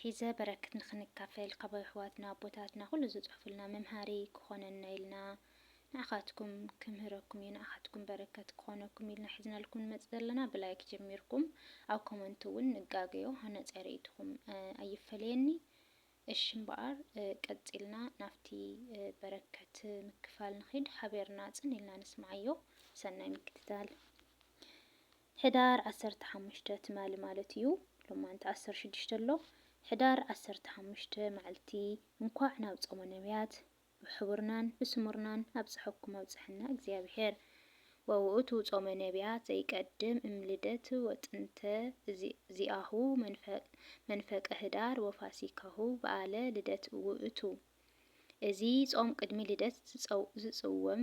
ሒዘ በረክት ንክንካፈል ካብ ኣሕዋትና ኣቦታትና ኩሉ ዝጽሕፉልና መምሃሪ ክኮነና ኢልና ንዓካትኩም ክምህረኩም እዩ ንዓካትኩም በረከት ክኮነኩም ኢልና ሒዝናልኩም ንመጽእ ዘለና ብላይክ ጀሚርኩም ኣብ ኮመንት ውን ንጋገዮ ሃናጺ ሪኢትኩም ኣይፈለየኒ እሺ እምበኣር ቀጺልና ናብቲ በረከት ምክፋል ንኪድ ሓቤርና ጽን ኢልና ንስምዓዮ ሰናይ ምክትታል። ሕዳር ዓሰርተ ሓሙሽተ ትማሊ ማለት እዩ ሎማንቲ ዓሰርተ ሽዱሽተ ኣሎ ሕዳር ዓሰርተ ሓሙሽተ ማዕልቲ እንኳዕ ናብ ጾመ ነብያት ብሕቡርናን ብስሙርናን ኣብጸሐኩም ኣብጸሐና እግዚኣብሔር ወውእቱ ጾመ ነብያት ዘይቀድም እም ልደት ወጥንተ ዚኣሁ መንፈቀ ህዳር ወፋሲካሁ በዓለ ልደት ውእቱ እዚ ጾም ቅድሚ ልደት ዝጽወም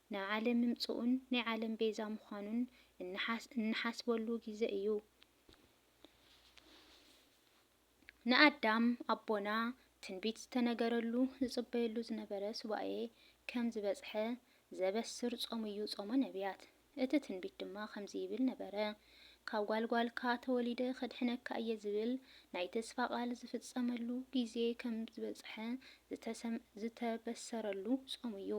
ናብ ዓለም ምምጽኡን ናይ ዓለም ቤዛ ምዃኑን እንሓስበሉ ግዜ እዩ። ንኣዳም ኣቦና ትንቢት ዝተነገረሉ ዝጽበየሉ ዝነበረ ሱባኤ ከም ዝበጽሐ ዘበስር ጾም እዩ ጾመ ነብያት። እቲ ትንቢት ድማ ከምዚ ይብል ነበረ፣ ካብ ጓል ጓልካ ተወሊደ ከድሕነካ እየ ዝብል ናይ ተስፋ ቃል ዝፍጸመሉ ግዜ ከም ዝበጽሐ ዝተበሰረሉ ጾም እዩ።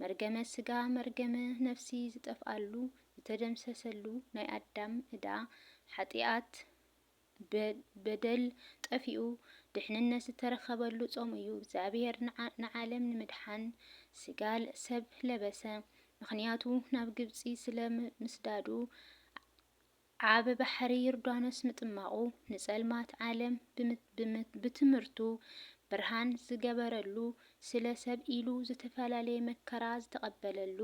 መርገመ ስጋ መርገመ ነፍሲ ዝጠፍኣሉ ዝተደምሰሰሉ ናይ ኣዳም እዳ ሓጥያት በደል ጠፊኡ ድሕንነት ዝተረከበሉ ጾም እዩ እግዚኣብሔር ንዓለም ንምድሓን ስጋ ሰብ ለበሰ ምክንያቱ ናብ ግብጺ ስለ ምስዳዱ ኣብ ባሕሪ ዩርዳኖስ ምጥማቑ ንጸልማት ዓለም ብትምህርቱ ብርሃን ዝገበረሉ ስለ ሰብ ኢሉ ዝተፈላለየ መከራ ዝተቐበለሉ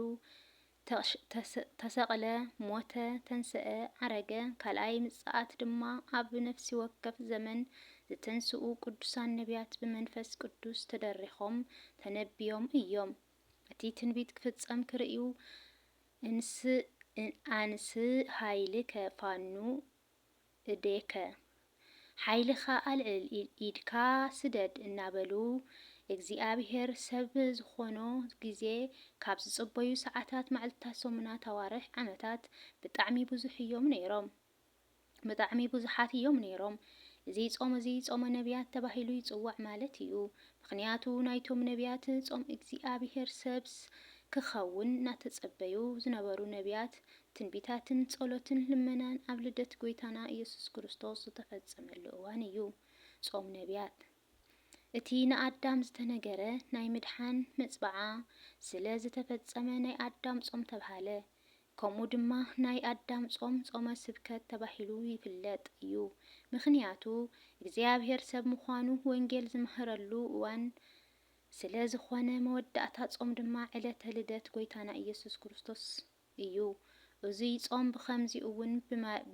ተሰቕለ ሞተ ተንሰኣ ዓረገ ካልኣይ ምጽኣት ድማ ኣብ ነፍሲወከፍ ዘመን ዝተንስኡ ቅዱሳን ነብያት ብመንፈስ ቅዱስ ተደሪኾም ተነብዮም እዮም እቲ ትንቢት ክፍጸም ክርእዩ እንስ ኣንስ ሃይልከ ፋኑ እዴከ ሓይልኻ ኣልዕል ኢድካ ስደድ እናበሉ እግዚኣብሔር ሰብ ዝኾኖ ግዜ ካብ ዝጽበዩ ሰዓታት ማዕልትታት ሰሙናት ኣዋርሕ ዓመታት ብጣዕሚ ብዙሕ እዮም ነይሮም። ብጣዕሚ ብዙሓት እዮም ነይሮም። እዚ ጾም እዚ ጾመ ነብያት ተባሂሉ ይጽዋዕ ማለት እዩ። ምኽንያቱ ናይቶም ነብያት ጾም እግዚኣብሔር ሰብስ ክኸውን ናተጸበዩ ዝነበሩ ነብያት ትንቢታትን ጸሎትን ልመናን ኣብ ልደት ጎይታና ኢየሱስ ክርስቶስ ዝተፈጸመሉ እዋን እዩ ጾም ነብያት። እቲ ንኣዳም ዝተነገረ ናይ ምድሓን መጽብዓ ስለ ዝተፈጸመ ናይ ኣዳም ጾም ተብሃለ። ከምኡ ድማ ናይ ኣዳም ጾም ጾመ ስብከት ተባሂሉ ይፍለጥ እዩ ምኽንያቱ እግዚኣብሔር ሰብ ምዃኑ ወንጌል ዝመሀረሉ እዋን ስለ ዝኾነ መወዳእታ ጾም ድማ ዕለተ ልደት ጐይታና ኢየሱስ ክርስቶስ እዩ እዙይ ጾም ብኸምዚ እውን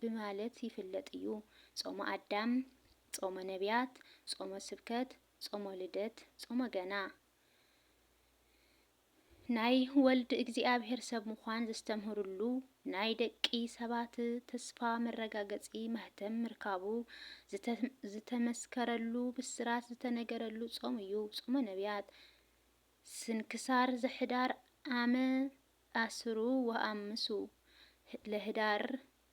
ብማለት ይፍለጥ እዩ ጾመ ኣዳም ጾመ ነቢያት ጾመ ስብከት ጾመ ልደት ጾመ ገና ናይ ወልድ እግዚኣብሔር ሰብ ምዃን ዘስተምህርሉ ናይ ደቂ ሰባት ተስፋ መረጋገጺ ማህተም ምርካቡ ዝተመስከረሉ ብስራት ዝተነገረሉ ጾም እዩ። ጾመ ነቢያት ስንክሳር ዘሕዳር ኣመ ኣስሩ ወኣምሱ ለህዳር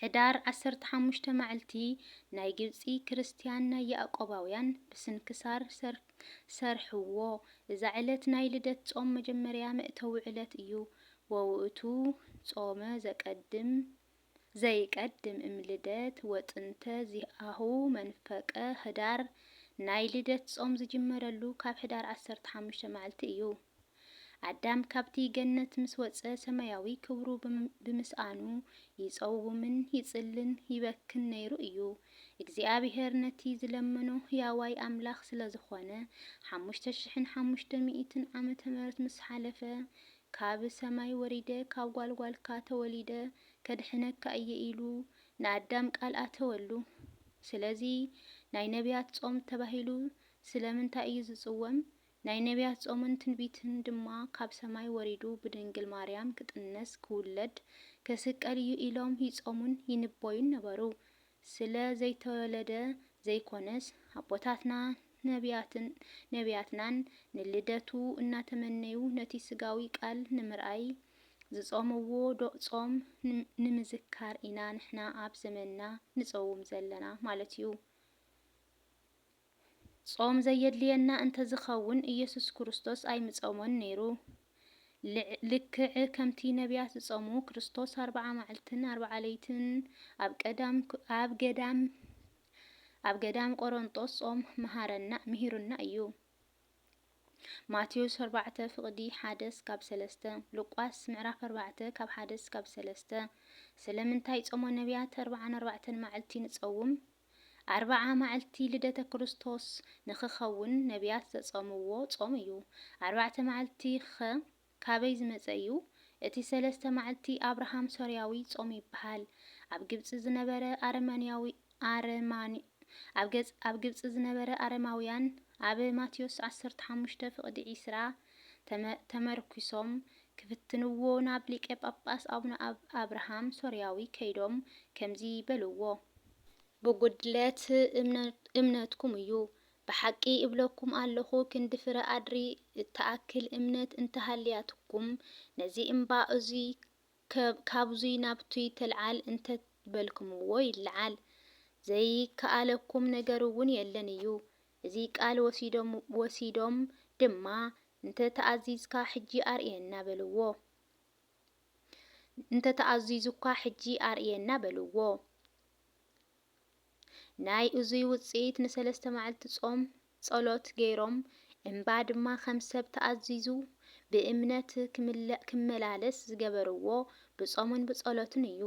ሕዳር ዓሰርተ ሓሙሽተ ማዕልቲ ናይ ግብጺ ክርስትያን ናይ ያእቆባውያን ብስንክሳር ሰርሕዎ እዛ ዕለት ናይ ልደት ጾም መጀመርያ መእተዊ ዕለት እዩ ወውእቱ ጾመ ዘቀድም ዘይቀድም እም ልደት ወጥንተ ዚአሁ መንፈቀ ሕዳር ናይ ልደት ጾም ዝጅመረሉ ካብ ሕዳር ዓሰርተ ሓሙሽተ ማዕልቲ እዩ። ኣዳም ካብቲ ገነት ምስ ወጸ ሰማያዊ ክብሩ ብምስኣኑ ይጸውምን ይጽልን ይበክን ነይሩ እዩ። እግዚኣብሄር ነቲ ዝለመኖ ህያዋይ ኣምላኽ ስለ ዝኾነ ሓሙሽተ ሽሕን ሓሙሽተ ሚእትን ዓመተ ምህረት ምስ ሓለፈ ካብ ሰማይ ወሪደ ካብ ጓልጓልካ ተወሊደ ከድሕነካ እየ ኢሉ ንኣዳም ቃል ኣተወሉ። ስለዚ ናይ ነብያት ጾም ተባሂሉ ስለምንታይ እዩ ዝጽወም ናይ ነብያት ጾምን ትንቢትን ድማ ካብ ሰማይ ወሪዱ ብድንግል ማርያም ክጥነስ ክውለድ ከስቀል እዩ ኢሎም ይጾሙን ይንቦዩን ነበሩ ስለ ዘይተወለደ ዘይኮነስ ኣቦታትና ነብያትን ነብያትናን ንልደቱ እናተመነዩ ነቲ ስጋዊ ቃል ንምርኣይ ዝጾምዎ ዶ ጾም ንምዝካር ኢና ንሕና ኣብ ዘመንና ንጾውም ዘለና ማለት እዩ። ጾም ዘየድልየና እንተ ዚኸውን፣ ኢየሱስ ክርስቶስ ኣይምጾሞን ነይሩ። ልክዕ ከምቲ ነብያት ዝጾሙ፣ ክርስቶስ ኣርብዓ መዓልትን ኣርብዓ ለይትን ኣብ ቀዳም ኣብ ገዳም ኣብ ገዳም ቆሮንጦስ ጾም መሃረና ምሂሩና እዩ። ማቴዎስ ኣርባዕተ ፍቕዲ ሓደ እስካብ ሰለስተ ሉቃስ ምዕራፍ ኣርባዕተ ካብ ሓደ እስካብ ሰለስተ ስለምንታይ ጾመ ነብያት ኣርብዓን ኣርባዕተን መዓልቲ ንጸውም? ኣርብዓ መዓልቲ ልደተ ክርስቶስ ንኽኸውን ነብያት ዘጾምዎ ጾም እዩ። ኣርባዕተ መዓልቲ ኸ ካበይ ዝመጸ እዩ? እቲ ሰለስተ መዓልቲ ኣብርሃም ሶርያዊ ጾም ይብሃል። ኣብ ግብጺ ዝነበረ ኣረማንያዊ ኣረማን ኣብ ግብጺ ዝነበረ ኣረማውያን ኣብ ማቴዎስ ዓሰርተ ሓሙሽተ ፍቕዲ ዒስራ ተመ ተመርኲሶም ክፍትንዎ ናብ ሊቀ ጳጳስ ኣቡነ ኣብርሃም ሶርያዊ ከይዶም ከምዚ በልዎ ብጉድለት እምነትኩም እዩ። ብሓቂ እብለኩም ኣለኹ ክንዲ ፍረ ኣድሪ እትኣክል እምነት እንተሃልያትኩም ነዚ እምባ እዙይ ካብዙይ ናብቱይ ተልዓል እንተ በልክምዎ ይልዓል። ዘይከኣለኩም ነገርውን የለን እዩ። እዚ ቃል ወሲዶም ድማ እንተ ተኣዚዝካ ሕጂ ኣርእየና በልዎ። እንተ ተኣዚዙካ ሕጂ ኣርእየና በልዎ። ናይ እዙይ ውጽኢት ንሰለስተ መዓልቲ ጾም ጸሎት ገይሮም እምባ ድማ ከም ሰብ ተኣዚዙ ብእምነት ክመላለስ ዝገበርዎ ብጾምን ብጸሎትን እዩ።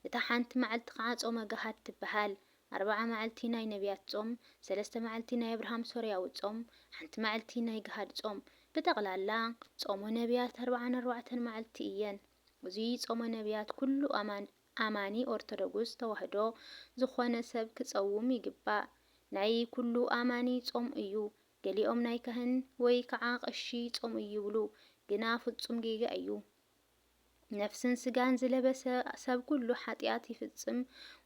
እታ ሓንቲ መዓልቲ ኸዓ ጾመ ገሃድ ትበሃል። ኣርብዓ መዓልቲ ናይ ነብያት ጾም፣ ሰለስተ መዓልቲ ናይ ኣብርሃም ሶርያዊ ጾም፣ ሓንቲ መዓልቲ ናይ ገሃድ ጾም። ብጠቕላላ ጾመ ነብያት ኣርብዓን ኣርባዕተን መዓልቲ እየን። እዙይ ጾመ ነብያት ኩሉ ኣማኒ ኦርቶዶጉስ ተዋህዶ ዝኾነ ሰብ ክጸውም ይግባእ። ናይ ኩሉ ኣማኒ ጾም እዩ። ገሊኦም ናይ ካህን ወይ ከዓ ቐሺ ጾም እዩ ይብሉ። ግና ፍጹም ጌጋ እዩ። ነፍስን ስጋን ዝለበሰ ሰብ ኩሉ ሓጥያት ይፍጽም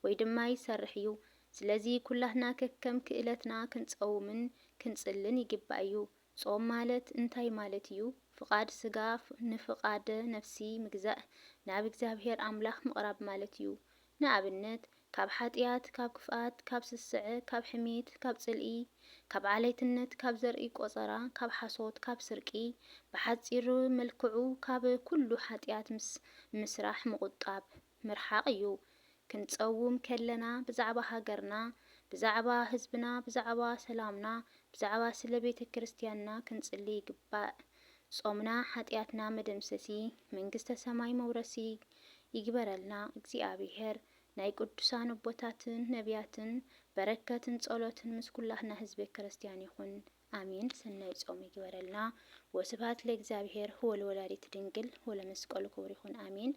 ወይ ድማ ይሰርሕ እዩ። ስለዚ ኩላትና ከከም ክእለትና ክንጸውምን ክንጽልን ይግባእ እዩ። ጾም ማለት እንታይ ማለት እዩ? ፍቓድ ስጋ ንፍቓደ ነፍሲ ምግዛእ ናብ እግዚኣብሔር ኣምላኽ ምቕራብ ማለት እዩ። ንኣብነት፣ ካብ ሓጥያት፣ ካብ ክፍኣት፣ ካብ ስስዐ፣ ካብ ሕሜት፣ ካብ ጽልኢ፣ ካብ ዓሌትነት፣ ካብ ዘርኢ ቆጸራ፣ ካብ ሓሶት፣ ካብ ስርቂ፣ ብሓጺር መልክዑ ካብ ኩሉ ሓጥያት ምስ ምስራሕ ምቑጣብ፣ ምርሓቕ፣ እዩ። ክንጸውም ከለና ብዛዕባ ሃገርና፣ ብዛዕባ ህዝብና፣ ብዛዕባ ሰላምና፣ ብዛዕባ ስለ ቤተ ክርስትያንና ክንጽሊ ይግባእ። ጾምና ሓጥያትና መደምሰሲ መንግስተ ሰማይ መውረሲ ይግበረልና እግዚኣብሔር ናይ ቅዱሳን ኣቦታትን ነብያትን በረከትን ጸሎትን ምስ ኩላትና ህዝበ ክርስትያን ይኹን ኣሜን ሰናይ ጾም ይግበረልና ወስብሃት ለእግዚኣብሔር ወለወላዲት ድንግል ወለመስቀሉ ክቡር ይኹን ኣሜን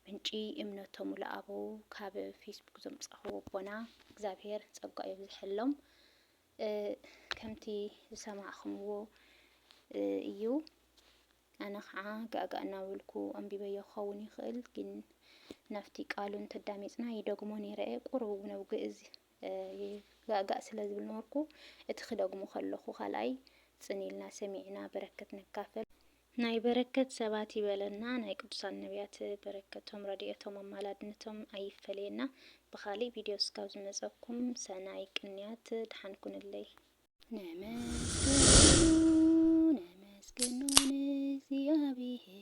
ምንጪ እምነቶም ውለኣበው ካብ ፌስቡክ ዘምጻኹ ኣቦና እግዚኣብሔር ጸጋኡ የብዝሐሎም ከምቲ ዝሰማዕኹምዎ እዩ። ኣነ ኸዓ ጋእጋእ እናበልኩ ኣንቢበዮ ክኸውን ይኽእል፣ ግን ናብቲ ቃሉ እንተዳሚፅና ይደግሞ ነይረ እየ። ቁሩብ እውን ኣብ ግእዝ ጋእጋእ ስለ ዝብል ነበርኩ። እቲ ክደግሞ ከለኹ ካልኣይ ፅን ኢልና ሰሚዕና በረከት ንካፈል። ናይ በረከት ሰባት ይበለና ናይ ቅዱሳን ነብያት በረከቶም ረዲኤቶም ኣማላድነቶም ኣይፈለየና ብካሊእ ቪድዮ እስካብ ዝመፀኩም ሰናይ ቅንያት ድሓን ኩንለይ። ነመስግኖ ነመስግኖ ንእግዚኣብሄር